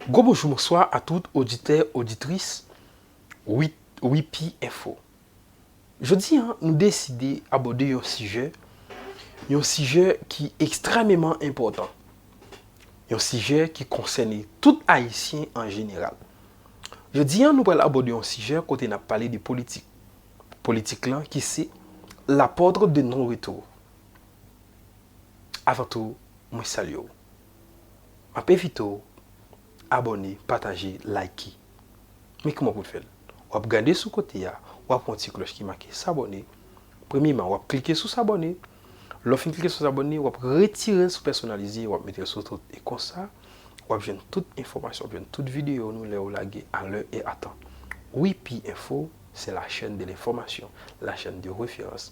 Gwo bonjou bonswa a tout oditè oditris wipi enfo jodi an nou deside abòde yon sijè yon sijè ki ekstrèmeman enpòtan yon sijè ki konsène tout ayisyen an jeneral jodi an nou pral abòde yon sijè kote n ap pale de politik politik lan ki se la pòtre de non retou. Avan tou mwen salye w. Map envite w abone, pataje, like. Men kouman pou n fè l. Wap gade sou kote a, wap wè yon ti klòch ki make s'abonner. Premyeman wap klike sou s'abonner. Lè w fin klike sou s'abonner, wap retire l sou pèsonalize, wap mete l sou tout. E konsa, wap jwenn tout enfòmasyon, wap jwenn tout videyo nou lè yo lage a lè e a tan. Wipy Info, c'est la chaîne de l'information, la chaîne de référence.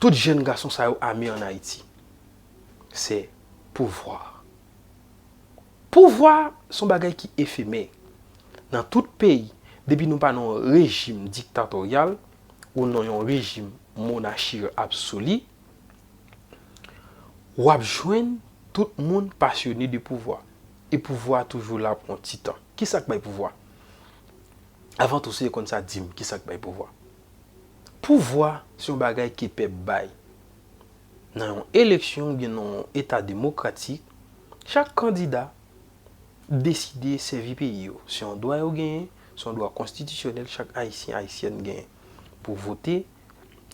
Tout jèn gason sa yo ame an Ayiti. Se pouvwa. Pouvwa se yon bagay ki efemè. Nan tout peyi, depi nou pa nan yon rejim diktatoryal ou nan yon rejim monachi absoli, w ap jwenn tout moun pasyone de pouvwa. E pouvwa a toujou la pou yon ti tan. Ki sa k bay pouvwa? Avan tou, si yo konn sa, di m, ki sa k bay pouvwa? Pouvwa se yon bagay ke pèp bay. Nan yon eleksyon oubyen nan yon eta demokratik, chak kandida deside sèvi peyi yo. Se yon dwa yo genyen, se yon dwa konstitisyonèl chak Ayisyen, Ayisyèn genyen pou vote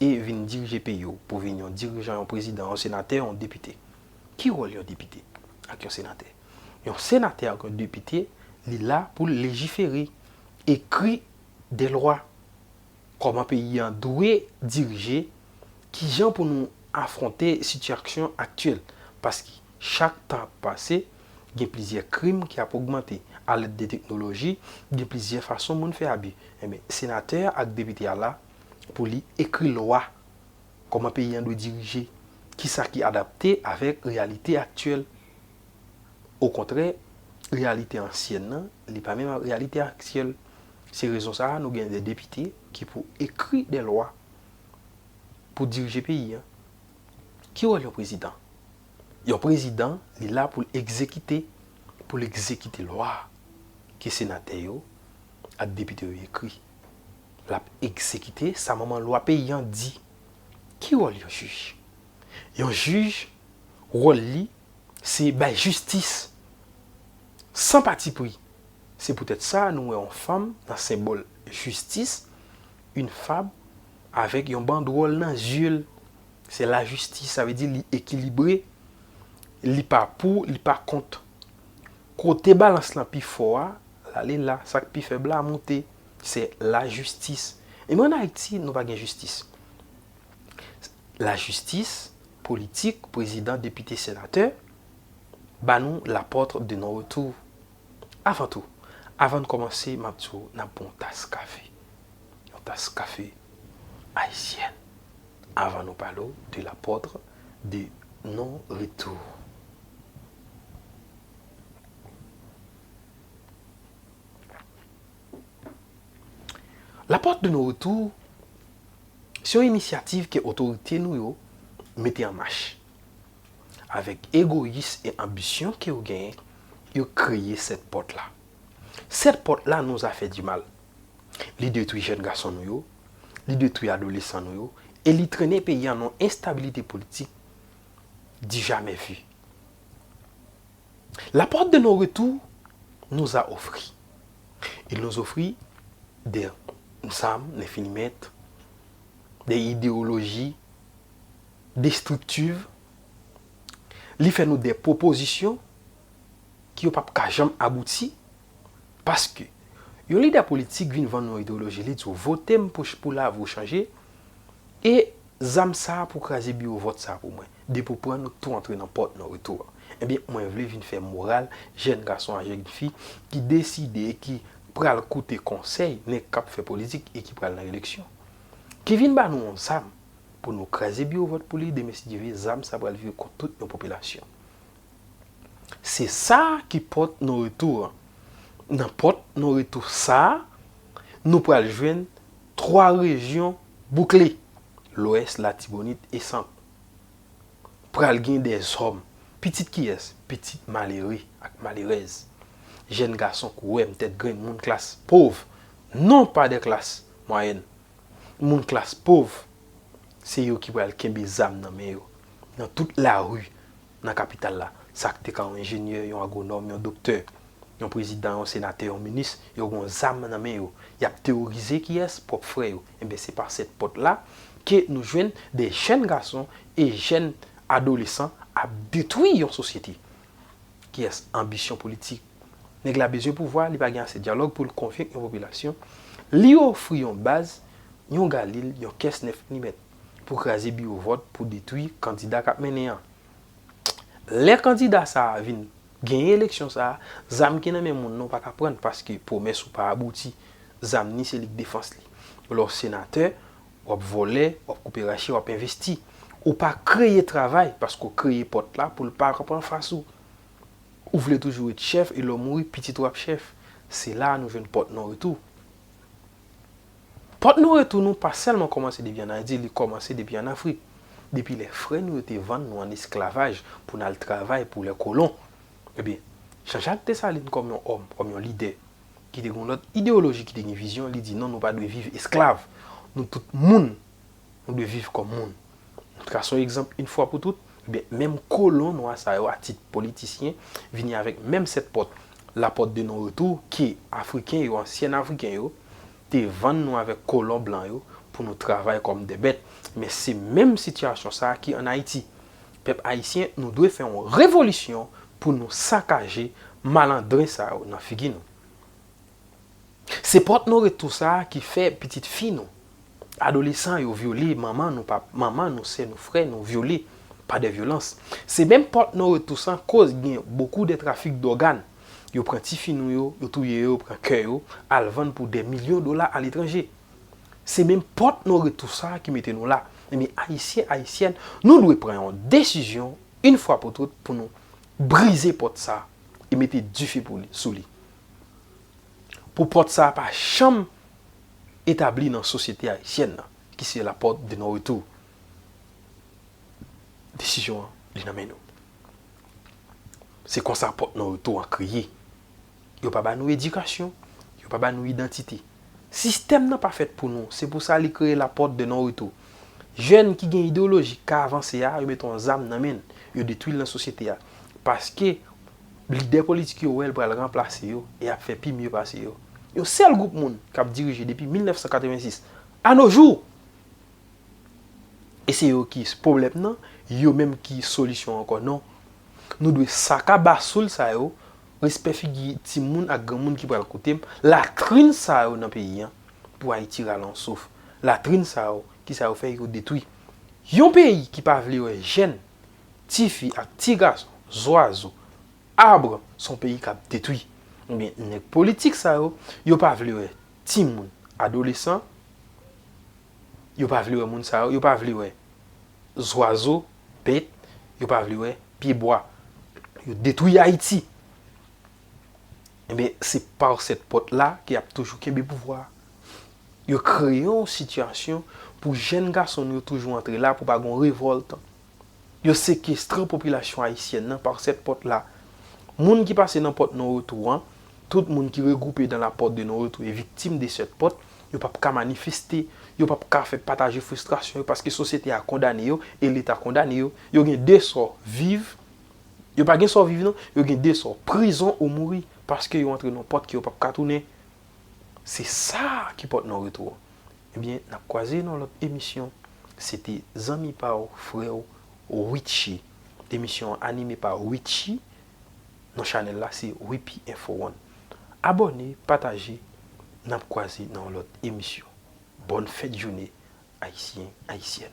e vin dirije peyi yo, pou vin yon dirijan, yon prezidan, yon senatè, yon depite. Ki wòl yon depite ak yon senatè? Yon senatè ak yon depite, li la pou l lejifere, ekri de lwa. Kòman peyi an dwe dirije, kijan pou nou afwonte sitiyaksyon aktyèl, paske chak tan ap pase, gen plizyè krim ki ap ogmante, a lèd de teknoloji, gen plizyè fason moun fè abi. Enben, senatè a ak depite a la pou li ekri lwa kòman peyi an dwe dirije, kisa ki adapte avèk reyalite aktyèl. Okontrè, reyalite ansyèn nan, li pa menm ak reyalite aktyèl. Se rezon sa a nou gen de depite ki pou ekri de lwa pou dirije peyi a. Ki wòl yon prezidan? Yon prezidan li la pou l egzekite, pou l egzekite lwa ke senatè yo ak depite yo ekri. L ap egzekite sa manman lwa peyi an di. Ki wòl yon jij? Yon jij wòl li se bay jistis san patipri Se poutèt sa nou wè yon fanm nan senbòl jistis, yn fab, avèk yon bandwòl nan zye l. Se lajistis, sa vle di li ekilibre, li pa pou, li pa kont. Kote balans lan pi fò a, l ale la, sa k pi fèb la moute. Se lajistis. Ebyen ann Ayiti, nou pa gen jistis. Lajistis, politik, prezidan, depite, senatè, ba nou la pòtre de non retou. Avan tou, avan n kòmanse m ap di w n ap bon w tas kafe. Yon tas kafe ayisyèn avan nou pale w de L'Apôtre de Non Retour. L'Apôtre de Non Retour se yon inisyativ ke otorite nou yo mete an mach. avèk egoyis e anbisyon kew genyen yo kreye 7 pòt la. 7 pòt la nou a fè di mal. Li detwi jèn gason nou yo, li detwi adolesan nou yo e li trennen peyi an nan enstabilite politik di jamè vi. La porte de non retou nou a ofri. Il nous offrit des zam, des finimet, des idewoloji. destriktiv, li fè nou de pwopozisyon ki yo pap ka janm abouti, paske yon lidè politik vin vann nou ideyoloji li di w vote m pou lavi w chanje, e zam sa pou kraze biwo vòt sa pou mwen, depi w pran nou tou antre nan pòt nan retou an. Ebyen mwen vle vin fè moral jèn gason ak jèn fi ki deside e ki pral koute konsèy nèg kap fè politik e ki pral nan eleksyon, ki vin ba nou yon zam, Pou nou kraze biwo vòt pou li demen si Dye ve zam sa pral vire kont tout yon popilasyon. Se sa ki pòt non retou an. Nan pòt non retou sa nou pral jwenn 3 rejyon boukle, Lwès, Latibonit e Sant. Pral gen de zòm. Pitit kiyès? Pitit malere ak malerèz. Jèn gason kouwèm, tèt grenn, moun klas pov, non pa de klas mwayèn. moun klas pov se yo ki pral kenbe zam nan men yo nan tout lari nan kapital la. Sa k te ka yon enjenyè, yon agwonòm, yon doktè, yon prezidan, yon senatè, yon minis, yo gen yon zam nan men yo. Y ap teworize kiyès? Pwòp frè yo. Enben, se pa sèt pòt la ke nou jwenn de jèn gason e jèn adolesan ap detwi yon sosyete. Kiyès? Anbisyon politik. Nèg la bezwen pouvwa, li pa gen ase dyalòg pou l konvenk yon popilasyon, li ofri yon baz, yon galil, yon kès 9 milimèt, pou kraze biwo vòt, pou detwi kandida k ap mennen an. Lè kandida sa a vin genyen eleksyon sa a, zam ki nan men moun nan w pa ka pran l, paske pwomès ou pa abouti. Zam ni se lig defans li. Lè w senatè, Wap vòlè, wap koupe rache, wap envesti. Ou pa kreye travay paske w kreye pòt la pou l pa rap anfas ou. Ou vle toujou ret chèf e lè w mouri pitit ou ap chèf. Se la a nou jwenn pòt non retou. Pòt non retou nou pa sèlman kòmanse depi an Ayiti, li kòmanse depi an Afrik. Depi lè frè nou yo te vann nou an esklavaj pou n al travay pou lè kolon. Ebyen, Jan Jak Desalin kòm yon òm, kòm yon lidè, ki te gen yon lòt ideyoloji, ki te gen vizyon, li di non nou pa dwe viv esklav, nou tout moun, nou dwe viv kòm moun. Trason egzanp yn fwa pou tout, ebyen menm kolon nwa sa yo a tit politisyen vini avèk menm sèt pòt, la porte de non retour, ke afriken yo, ansyen afriken yo, te vann nou avèk kolon blan yo pou nou travay kòm dè bèt. Men se menm sitiyasyon sa ki an Ayiti. Pèp ayisyen nou dwe fè yon revolisyon pou nou sakaje malandren sa yo nan figi nou. Se pòt nou retou sa ki fè pitit fi nou, adolesan yo vyole manman nou pap manman nou sè nou frè nou vyole pa dè vyolans. Se menm pòt nou retou san koz gen bokou dè trafik dògan yo pran ti fi nou yo yo touye yo pran kè yo al vann pou dè milyon dola aletranje. Se menm pòt nou retou sa ki mete nou la. Ebyen Ayisyen, Ayisyèn, nou dwe pran yon desizyon yn fwa pou tout pou nou brize pòt sa e mete dife pou li, sou li. Pou pòt sa pa janm etabli nan sosyete Ayisyèn nan ki se la pòt de non retou. Desizyon an li nan men nou. Se konsa pòt non retou an kreye. Yo pa ba nou edikasyon, yo pa ba nou idantite. Sistèm nan pa fèt pou nou, se pou sa li kreye la porte de non retour. Jèn ki gen ideoloji ka avanse a, yo mete yon zam nan men l, yo detwi l nan sosyete a. Paske lidè politik yo wè l pral ranplase yo e ap fè pi mye pase yo. Yon sèl gwoup moun k ap dirije depi 1986 a no jou! E se yo ki pwoblèm nan, yo menm ki solisyon ankò non. Nou dwe sakaba soul sa yo Respè figi ti moun ak gran moun ki pral koutem latrin sa yo nan peyi an pou ayiti rale yon souf latrin sa yo kisa yo fè yo detwi yon peyi ki pa vle wè jèn ti fi ak ti gason zwazo arbre son peyi kap detwi ebyen nèg politik sa yo yo pa vle wè ti moun adolesan yo pa vle wè moun sa yo yo pa vle wè zwazo Bèt yo pa vle wè pye bwa. Yo detwi Ayiti. Enben se par cette porte là ke yap toujou kenbe pouvwa a. Yo kreye yon sitiyasyon pou jèn gason nou yo toujou antre la pou pa gen yon revòlt. Yo sekestre popilasyon ayisyèn nan par cette porte là. Moun ki pase nan pòt non retou an, Tout moun ki regroupe dans la porte de non retou e viktim de cette porte, yo pap ka manifeste, yo pap ka fè pataje fristrasyon yo paske sosyete a kondane yo e leta kondane yo. Yo gen 2 sò, viv, yo pa gen sò viv non, yo gen 2 sò, prizon ou mouri paske yo antre non pòt ke yo pap ka tounen. Se sa ki pòt non retou an. Ebyen, nap kwaze non lòt emisyon. Se te zanmi pa w, frè w, Ritchie. Emisyon an anime pa Ritchie Non chanèl la se Wipi Info One. Abòne, pataje, nap kwaze nan yon lòt emisyon. Bòn fèt joune Ayisyen, Ayisyèn.